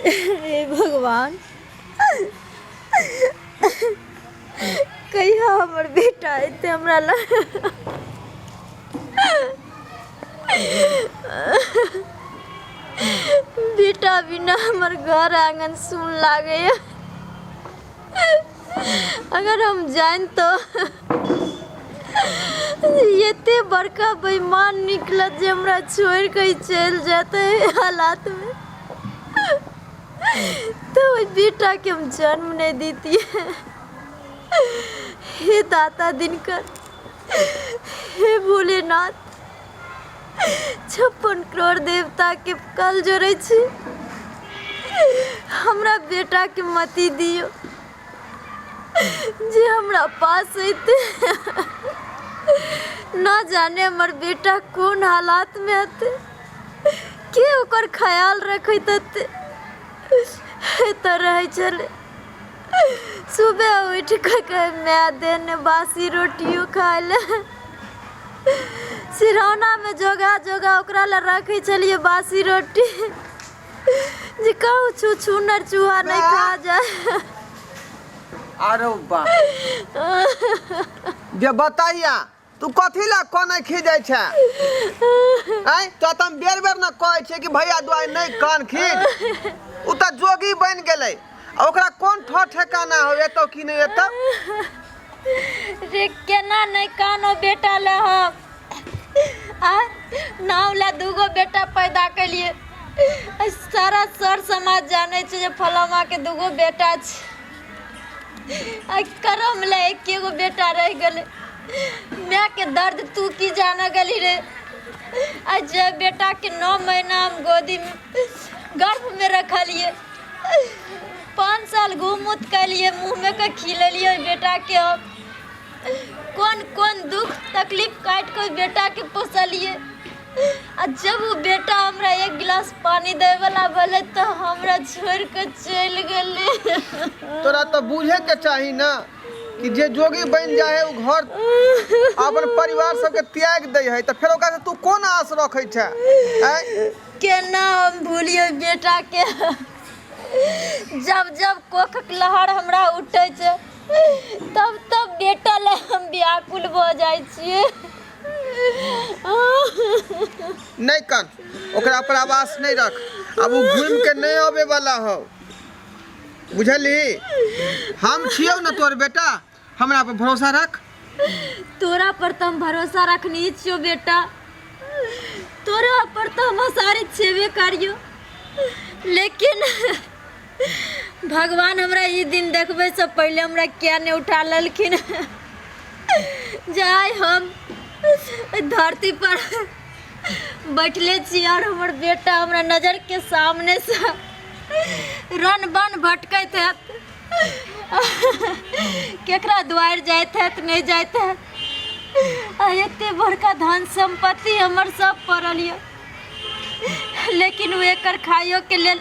हे भगवान कहिया हमर बेटा एते हमरा ल बेटा बिना हमर घर आंगन सुन लागैए अगर हम जानितो एते बड़का बेईमान निकलत जे हमरा छोड़ के चल जाते एहि हालात में तो ओहि बेटा के हम जन्म नहीं देती हे दाता दिनकर हे भोलेनाथ छप्पन करोड़ देवताके कल जोड़ै छी हमरा बेटाके मति दियौ जे हमरा पास अयतै न जाने हमर बेटा कोन हालातमे हेतै के ओकर ख्याल रखैत हेतै एतऽ रहै छलै सुबह उठि कऽ कहै माय दे ने बासी रोटियो खाय ले सिरौनामे जोगा जोगा ओकरा लए रखै छलियै बासी रोटी जे कहू छू छूनर चूहा नहि खा जाय आरो बा जे बताइया तू कथी ला कनै खीजै छै आय तो त हम बेर बेर न कहै छै कि भैया दुआई नहीं कान खीज उ त जोगी बन गेलै आ ओकरा कोन ठो ठेकाना हो एतो कि नहीं एतो रे केना नहीं कानो बेटा ले हम आ नाव ला दूगो बेटा पैदा कलिए आ सारा सर समाज जाने छै जे फलामा के दूगो बेटा छै आइ करम ले एके गो बेटा रह गेले माय के दर्द तू की जाना गली रे आज जे बेटा के नौ महीना हम गोदी में गर्भ में रखलिए पाँच साल घूम उत कैलिए मुँह में के खिलेलिए बेटा के हम कौन कौन दुख तकलीफ काट के बेटा के पोसलिए आ जब ओ बेटा हमरा एक गिलास पानी दै वाला भेलै तऽ हमरा छोड़ के चलि गेलै तोरा तऽ बुझे के चाही ना कि जे जोगी बन जाए है उ घर अपन परिवार सबके त्याग दै है तऽ फेर ओकरा से तू कोन आस रखै छै आँय? केना हम भूलिए बेटा के जब जब कोखक लहर हमरा उठै छै तब तब बेटा लए हम व्याकुल भऽ जाइ छियै नहि कन ओकरा पर आवास नहि रख अब ओ घूम के नहीं आबे वाला हो बुझली हम छियो ना तोर बेटा हमरा पर भरोसा रख तोरा पर तो हम भरोसा रखनी छो बेटा तोरा पर तो हम सारी छेबे करियो लेकिन भगवान हमरा ई दिन देखबैसँ पहिले हमरा किया नहि उठा लेलखिन जाय हम धरती पर बैठले छी और हमर बेटा हमरा नजर के सामने से रन बन भटकैत है केकरा द्वार जाइत है नहीं जाइत है एते बड़का धन संपत्ति हमर सब पड़ल यऽ लेकिन वो एक खाइयो के लेल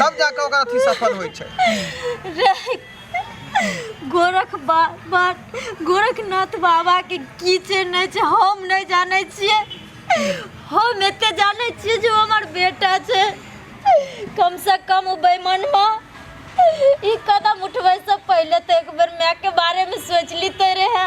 तब जाके ओकर अथी सफल होइ छै गोरख बा, बा, गोरखनाथ बाबा के की छै नहि छै हम नहि जानै छियै हम एते जानै छियै जे ओ हमर बेटा छै कम से कम ओ बेईमानवा ई कदम उठबै से पहिले तऽ एक बेर माय के बारे में सोच लीते रहे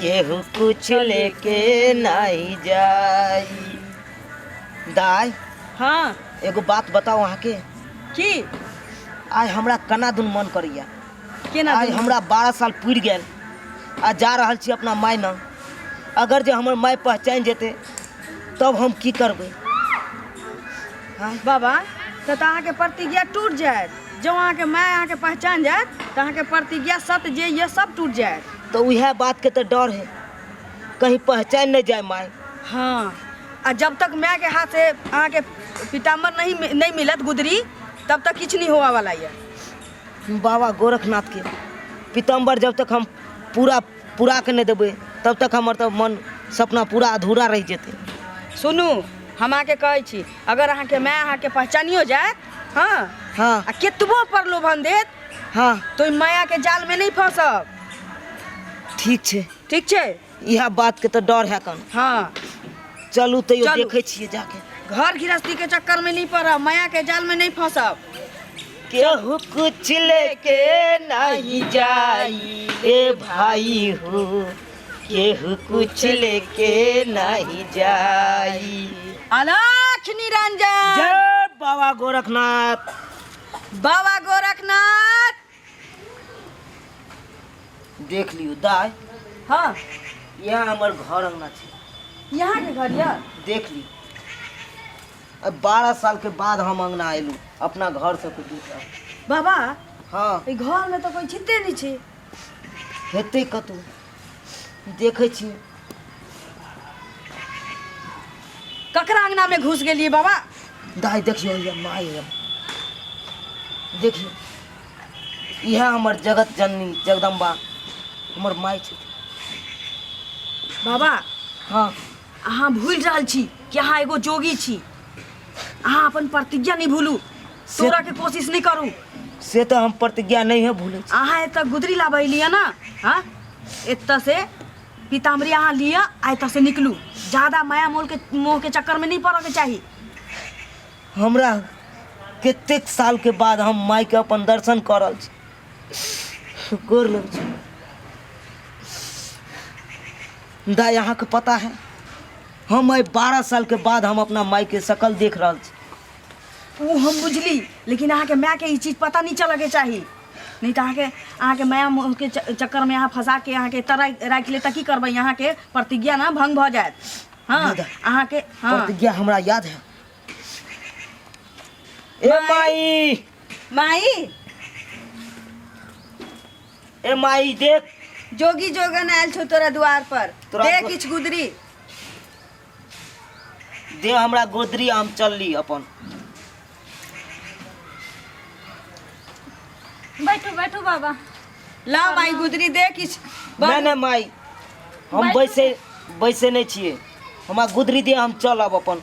केहू कुछ लेके नहीं जाई दाई हाँ एगो बात बताओ अहाँ के की आय हमरा कना दुन मन करिया केना आय दुनू? हमरा बारह साल पुरि गेल आ जा रहल छी अपना माय न अगर जे हमर माय पहचान जेते तब हम की करबै बाबा से तऽ अहाँके प्रतिज्ञा टूट जायत जँ अहाँके माय अहाँके पहचान जायत तऽ अहाँके प्रतिज्ञा सत जे ये सब टूट जायत तऽ उएह बात के तऽ डर है कहीं पहचान नहि जाय माय हाँ आ जब तक माय के हाथ से अहाँके पिताम्बर नहीं नहीं मिलत गुदरी तब तक किछु नहीं होवा वाला ये बाबा गोरखनाथ के पिताम्बर जब तक हम पूरा पूरा के नहि देबै तब तक हमर तऽ मन सपना पूरा अधूरा रहि जेतै सुनू हम अहाँके कहै छी अगर अहाँके माय अहाँके पहचानियो जायत हँ हँ आ केतबो प्रलोभन देत हँ तो ओहि मायाके जालमे नहि फँसब ठीक छै ठीक छै इएह बातके तऽ डर है कन हँ चलू तैयो चलू। देखै छियै जाके घर गृहस्थीके चक्करमे नहि पड़ब मायाके जालमे नहि फँसब केहू कुछ लेके नहीं जाई रे भाई हो केहू कुछ लेके नहीं जाई अलाख निरंजन जय बाबा गोरखनाथ बाबा गोरखनाथ देख लियो दाय हाँ यह हमर घर अंगना छै यहाँ के घर यह देख लियो अब बारह साल के बाद हम अंगना आयलू अपना घर से कुछ दूसरा बाबा हाँ ई घर में तो कोई छिते नहीं छी हेतै कतौ देखै छी ककरा अंगना में घुस गेलिए बाबा दाय देखियो ये माय ये। देखियो इहे हमर जगत जननी जगदम्बा हमर माय छै बाबा हाँ अहाँ भूल रहल छी कि अहाँ एगो जोगी छी अहाँ अपन प्रतिज्ञा नहीं भूलू तोड़ा के कोशिश नहीं करू से तो हम प्रतिज्ञा नहीं है भूले अहाँ एतऽ गुदरी लाबै लिअ ने हँ एतऽ से पीताम्बरी अहाँ लिअ आ एतऽ से निकलू ज्यादा माया मोल के मोह के चक्कर में नहीं पड़ऽ के चाही हमरा कतेक साल के बाद हम माई के अपन दर्शन करल छी गोर लग छी मुदा यहाँके पता है हम आइ बारह सालके बाद हम अपना मायके शकल देख रहल छी ओ हम बुझली लेकिन अहाँके मायके ई चीज पता नहि चलऽके चाही नहि तऽ अहाँके अहाँके माया मोहके च- चक्करमे अहाँ फंसा के अहाँके एतऽ राखि राखि ले तऽ की करबै अहाँके प्रतिज्ञा ने भंग भऽ जायत हँ मुदा अहाँके हँ प्रतिज्ञा हमरा याद है ए माई माई ए माई देख जोगी जोगन आयल छौ तोरा द्वार पर तोरा दे दो- किछु गुदरी दे हमरा गोदरी हम चलली अपन बैठू बैठू बाबा ला माई गुदरी दे किछु नहीं नहीं माई हम बैसे बैसे नहीं छिए हमरा गोदरी दे हम चलब अपन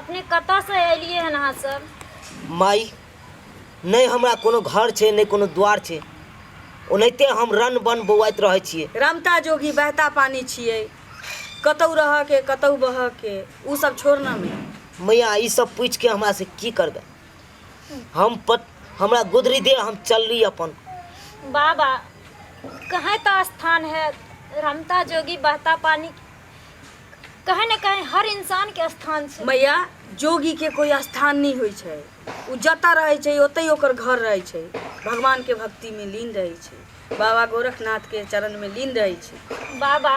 अपने कतऽसँ एलियै हन अहाँ सब माई नहि हमरा कोनो घर छै नहि कोनो द्वार छै ओनाहिते हम रन बन बौआइत रहै छियै रमता जोगी बहता पानी छियै कतहु रहऽके कतहु बहऽके ओ सब छोड़नामे मैया ई सब पूछि के हमरा से की करबै हम पत हमरा गुदरी दे हम चलली अपन बाबा कहें तो स्थान है रमता जोगी बहता पानी कहीं ना कहीं हर इंसान के स्थान छै मैया जोगी के कोई स्थान नहीं होइ छै ओ जतऽ रहै छै ओतहि ओकर घर रहै छै भगवान के भक्ति में लीन रहै छै बाबा गोरखनाथ के चरण में लीन रहै छै बाबा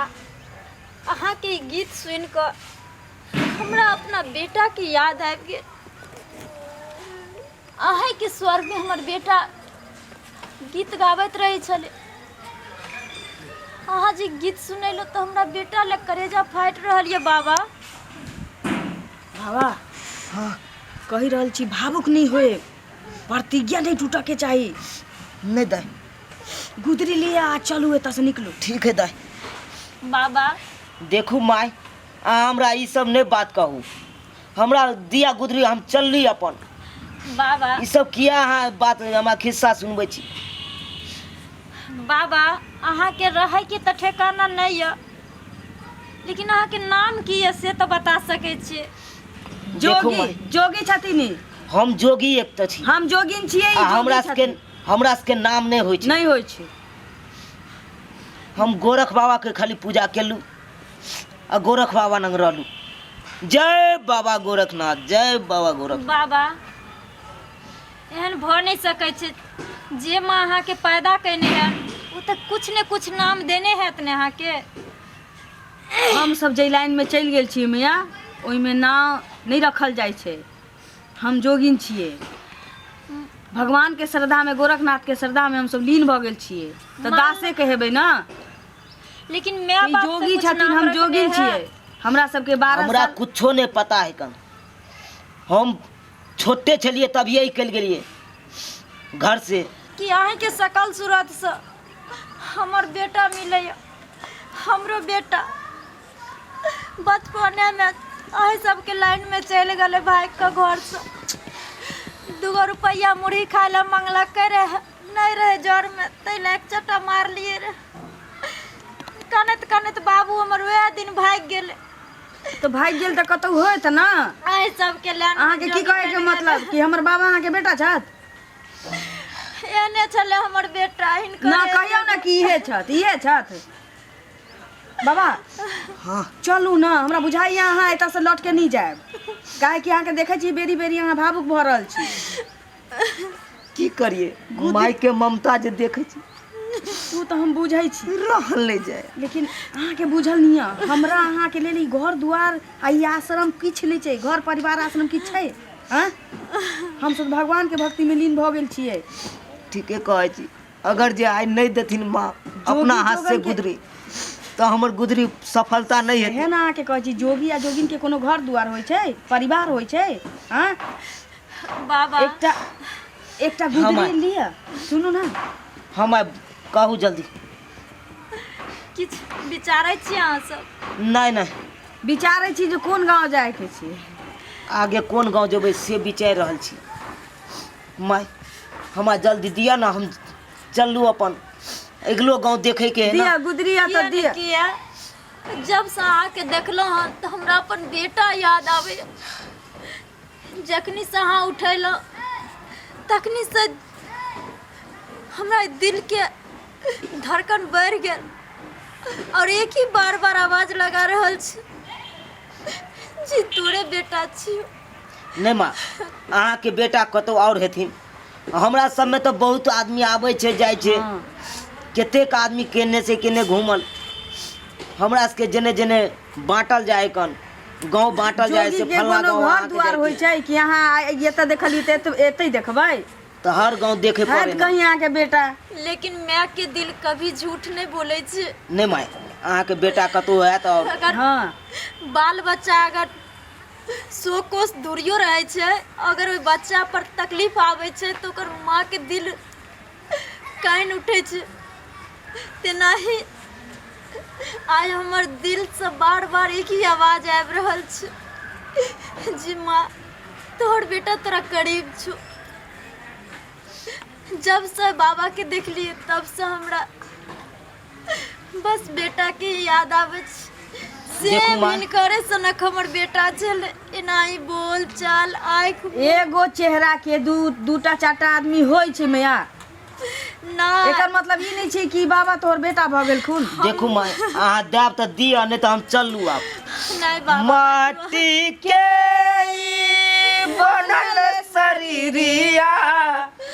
अहाँ के ई गीत सुन के हमरा अपना बेटा के याद आबि गेल अहींके स्वरमे हमर बेटा गीत गाबैत रहै छलै अहाँ जे गीत सुनेलहुँ तऽ हमरा बेटा लए करेजा फाटि रहल यऽ बाबा बाबा हँ कहि रहल छी भावुक नहि होए प्रतिज्ञा नहि टूटऽके चाही नहि दै गुदरी लिअ आ चलू एतऽसँ निकलू ठीक है दै बाबा देखू माय अहाँ हमरा ई सब नहि बात कहू हमरा दिया गुदरी हम चलली अपन बाबा ई सब किया अहाँ बात हमरा खिस्सा सुनबै छी बाबा अहाँके रहै के तऽ ठेकाना नहि यऽ लेकिन अहाँके नाम की यऽ से तऽ बता सकै छियै देखू जोगी माय, जोगी छथिन ई। हम जोगी एक तऽ छी हम जोगिन छियै ई आ जोगी हमरा सबके छथिन। हमरा सबके नाम नहि होइ छै नहि होइ छै हम गोरख बाबा के खाली पूजा केलू आ गोरख बाबा नंग रहलू जय बाबा गोरखनाथ जय बाबा गोरख बाबा एहन भऽ नहि सकै छै जे माँ अहाँके पैदा कयने हएत ओ तऽ किछु ने किछु नाम देने हएत ने अहाँके हम सब जै लाइन में चलि गेल छियै मैया ओहिमे नाम नहि रखल जाइ छै हम जोगिन छियै भगवान के श्रद्धा में गोरखनाथ के श्रद्धा में हम सब लीन भऽ गेल छियै तऽ दासे कहेबै ने लेकिन मैं ई बाप से जोगी कुछ छथिन नाम हम रखने जोगी हैं। छियै हमरा सबके बारह हमरा साल कुछो नहि पता है कन हम छोटे छलिए तभिए निकल गेलिए घर से कि अहीं के सकल सूरत से हमर बेटा मिले हमरो बेटा बचपने में अहीं सबके लाइन में चल गए भाई के घर से दूगो रुपया मुरही खाए ला मंगलक रहे नहि रहै जरमे ताहि लए एक चट्टा मारलियै रे कनैत कनैत बाबू हमर वएह दिन भागि गेलै तो भागि गेल तऽ कतौ होत ना एहि सबके लए अहाँके की कहै के मतलब कि हमर बाबा अहाँके बेटा छथि एने छलै हमर बेटा हिनकर ना कहियौ ना कि इहे छथि इहे छथि बाबा हाँ चलू ना हमरा बुझाइए अहाँ एतयसँ लौट के नहि जायब काहेकि अहाँके देखै छी बेरी बेरी अहाँ भावुक भऽ रहल छी की करिए माय के ममता जे देखे छी ओ तऽ हम बुझै छी रहल नहि जाय लेकिन अहाँके बुझल नहीं है हमरा अहाँके लेल ई घर दुआर आ ई आश्रम किछु नहि छै घर परिवार आश्रम किछु छै हँ हम सब भगवान के भक्ति में लीन भऽ गेल छियै ठीके कहै छी अगर जे आइ नहि देथिन माँ अपना हाथ से जोगन के- गुदरी तऽ हमर गुदरी सफलता नहि हेतै एहन अहाँके कहै छी जोगी आ जोगिन के कोनो घर दुआर होइ छै परिवार होइ छै हँ बाबा एकटा एकटा गुदरी हमर। लिअ सुनू ने हम आबि कहू जल्दी किछु विचारै छी अहाँ सब नहि नहि विचारै छी जे कोन गाँव जायके छै आगे कोन गाँव जेबै से विचारि रहल छी माय हमरा जल्दी दिअ ने हम चललू अपन अगिलो गाँव देखैके है दिअ ना गुदरी आ तऽ दिअ किया जब से अहाँके देखलहुँ हँ तऽ हमरा अपन बेटा याद आबैए जखनीसँ अहाँ उठेलहुँ तखनीसँ हमरा दिलके धड़कन बढ़ि गेल आओर एक ही बार बार आवाज लगा रहल छी जे तोरे बेटा छियौ नहि माँ अहाँके बेटा कतौ आओर हेथिन हमरा सबमे तऽ बहुत आदमी आबै छै जाइ छै कतेक आदमी केने से केने घूमल हमरा सबके जेने जेने बाँटल जाए कन गाँव बाँटल जाइ जोगी छै के फलना कोनो गाँव घर अहाँके दुआर जाइ होइ छै छै कि अहाँ आइ एतऽ देखलियै तऽ एत- एतै देखबै तऽ हर गाँव देखे पड़े हैत ने कहीं अहाँके बेटा लेकिन माय के दिल कभी झूठ नहीं बोले छै नहि माय अहाँके बेटा कतहु हैत आओर अगर हँ बाल बच्चा अगर सौ कोस दूरियो रहै छै अगर ओहि बच्चा पर तकलीफ आबै छै तऽ ओकर माँ के दिल कानि उठै छै तेनाही आइ हमर दिलसँ बार बार एक ही आवाज आबि रहल छै जी माँ तोहर बेटा तोरा करीब छौ जबसँ बाबाके देखलियै तबसँ हमरा बस बेटा के याद आवे से देखू माँ। मन करे सनक हमर बेटा छल एनाही बोल चाल आँख एगो चेहरा के दू दूटा चारटा आदमी होइ छै मैया ना एकर मतलब ई नहि छै कि बाबा तोहर बेटा भऽ गेलखुन देखू माय अहाँ देब तऽ दिअ नहि तऽ हम चलू आब नहीं बाबा माटी के ई बनल शरीरिया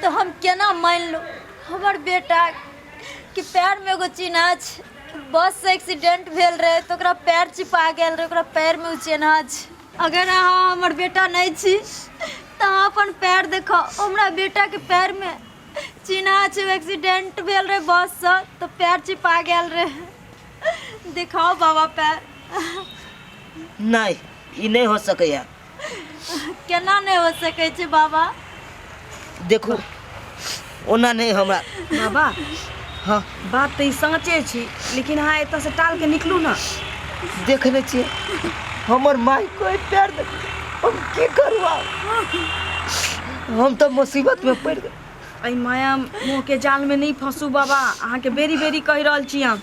तऽ हम केना मानि लू हमर बेटा कि पैरमे एगो चिन्हा छै बससँ एक्सीडेंट भेल रहै तऽ ओकरा पैर चिपा गेल रहै ओकरा पैरमे ओ चिन्हा छै अगर अहाँ हमर बेटा नहि छी तऽ अहाँ अपन पैर देखाउ हमरा बेटाके पैरमे चिन्हा छै एक्सीडेंट भेल रहै बससँ तऽ पैर चिपा गेल रहै देखाउ बाबा पैर नहि ई नहि हो सकैए केना नहि हो सकै छै बाबा देखू ओना नहि हमरा बाबा हँ बात तऽ ई साँचे छी लेकिन अहाँ एतऽसँ टाल के निकलू ने देखने छियै हमर माय कोई पैर दे हम की करू आब? हम तऽ मुसीबत में पड़ गए एहि माया मोहके जालमे नहि फँसू बाबा अहाँके बेरी बेरी कहि रहल छी हम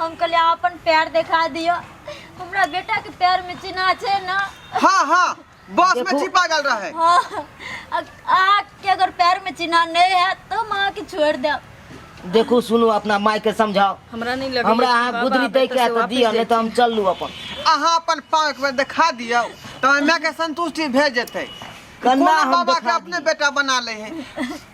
हम कहलियै अहाँ अपन पैर देखा दिअ हमरा बेटा के पैर में चिन्हा छै ना हाँ हाँ बस में छिपा गल रहे हाँ अ- अहाँ के अगर पैर में चिन्हा नहीं है तो हम अहाँ के छोड़ देब देखू सुनू अपना माय के समझाओ हमरा नहीं लगे हमरा अहाँ गुदरी दे के तो दिया नहीं तो हम चल लू अपन अहाँ अपन पाँव एक बेर देखा दियौ तऽ माय के संतुष्टि भए जेतै कन्ना कोनो हम बाबा के देखा अपने बेटा बना ले है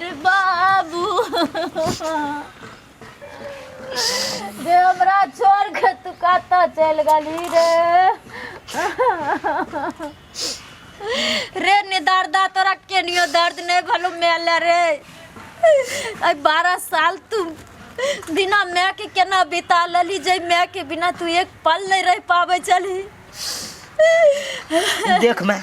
रे बाबू रे हमरा छोड़ के तू कतऽ चलि गेली रे रे ने दर्दा तोरा केनियो दर्द नहीं भलो मेल रे आई बारह साल तू बिना माय के केना बिता लली जे माय के बिना तू एक पल नहीं रह पावे चली देख मैं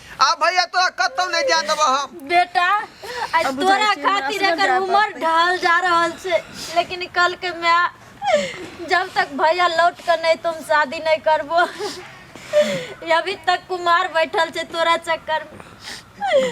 आ भैया तोरा कतौ नहीं जाए देबो हम बेटा आज अब तोरा उदासी में खातिर नाचना एकर जाए उम्र पड़तै। ढल जा रहल छै लेकिन कल के मैं जब तक भैया लौट कर नहीं तुम शादी नहीं करबो अभी तक कुमार बैठल छै तोरा चक्कर में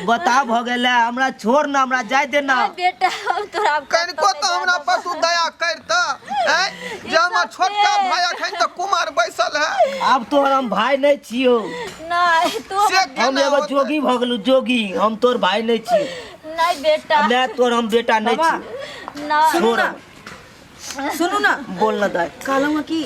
बता भ गेलै हमरा छोड़ ना हमरा जाय दे ना नहीं बेटा हम तोरा अब कतौ कनिको नहीं तो हमरा जाए पर तू दया कर त हैं जे हमर छोटका भाई अखन त कुमार बैसल है अब तोहर हम भाय नहीं छियो नहीं तू से बता- हम एगो जोगी भऽ गेलू जोगी हम तोर भाई नहीं छी नहीं बेटा मैं तोर हम बेटा नहीं बाबा। छी ना सुनू ना सुनू ना बोल ना दाई कहलहुँ कि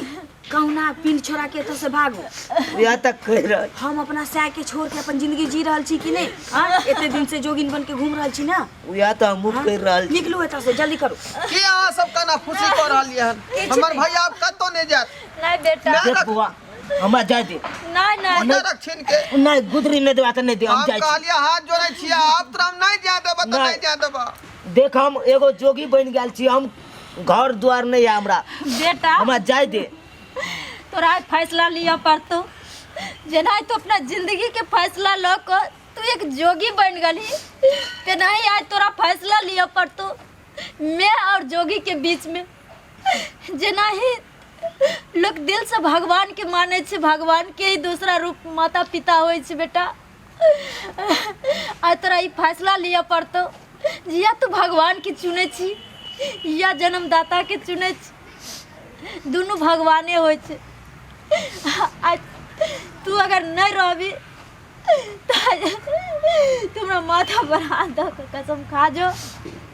कहुना पिंड छोड़ा के एतऽ से भागू या तक कह रहा हम अपना सै के छोड़ के अपन जिंदगी जी रहल छी कि नहीं हाँ एते दिन से जोगिन बन के घूम रहल छी ना या तो हमहू हाँ? कह रहल छी निकलू एतऽ से जल्दी करू की अहाँ सब कना खुशी कऽ रहलियै हन हमर भैया आब कतौ नहि जायत नहीं बेटा मैं देख रख- बुआ हमरा जाय दे नहीं नहीं मुंडा रख छीन के नहीं गुदरी नहीं देवा त नहीं दे हम हम जाय छी। कहलिए हाथ जोड़े छिया आप तो हम नहीं जा देबा तो नहीं। नहीं जा देबा देख हम एगो जोगी बन गेल छी हम घर द्वार नहीं है हमरा बेटा हमरा जाय दे तोरा आज फैसला लिया पड़तो जेना तो अपना जिंदगी के फैसला लो को तू एक जोगी बन गली तेनाही आज तोरा फैसला लिया पड़तो मैं और जोगी के बीच में जेना ही लोक दिलसँ भगवानके मानै छै भगवानके ही दोसरा रूप माता पिता होइ छै बेटा आ तोरा ई फैसला लिअ पड़तौ या तू भगवानके चुनै छी या जन्मदाताके चुनै छी दुनू भगवाने होइ छै आ तू अगर नहि रहबी तऽ तू हमरा माथा पर हाथ दऽ कऽ कसम खा जो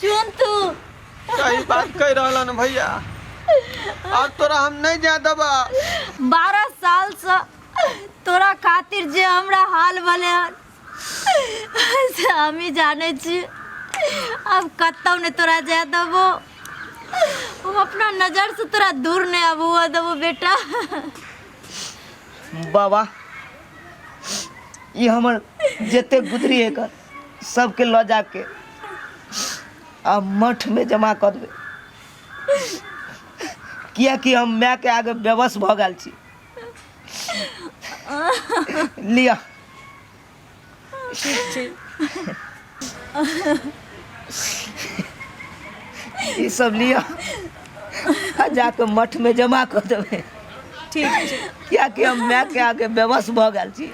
चुन तू सही बात कह रहा न भैया अब तोरा हम नहीं जा देबा बारह साल से तोरा खातिर जे हमरा हाल भले हन से हमी जाने छी अब कतौ ने तोरा जाए देबो हम अपना नजर से तोरा दूर नहीं अब हुआ देबो बेटा बाबा ई हमर जते गुदरी एकर सबके लऽ जाके आ मठ में जमा कऽ देबै कियाकि हम माय के आगे बेबस भऽ गेल छी लिअ ई सब लिअ आ जाके मठमे जमा कऽ देबै ठीक छै किएकि हम मायके आके बेबस भऽ गेल छी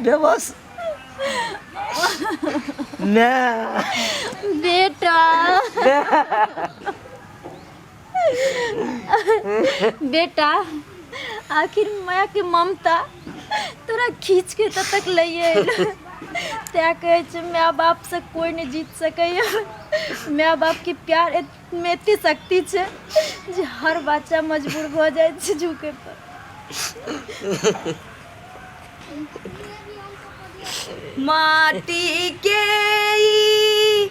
बेबस माय बेटा माय बेटा आखिर माय के ममता तोरा खींच के एतऽ तक लैए अयलौ। तैं कहै छै माय बाप से कोई नहि जीत सकैया माय बाप के प्यार एत- में एते शक्ति छै जे हर बच्चा मजबूर भऽ जाइ छै झुके पर माटी के ई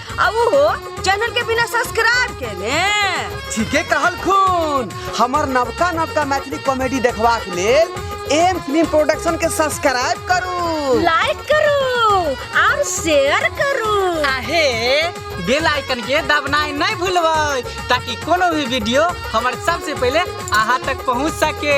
अब हो चैनल के बिना सब्सक्राइब के ने ठीके कहल खून हमर नवका नवका मैथिली कॉमेडी देखबाक लेल एम फिल्म प्रोडक्शन के सब्सक्राइब करू लाइक करू और शेयर करू आहे बेल आइकन के दबनाई नहीं भूलबै ताकि कोनो भी वीडियो हमर सबसे पहले अहाँ तक पहुँच सके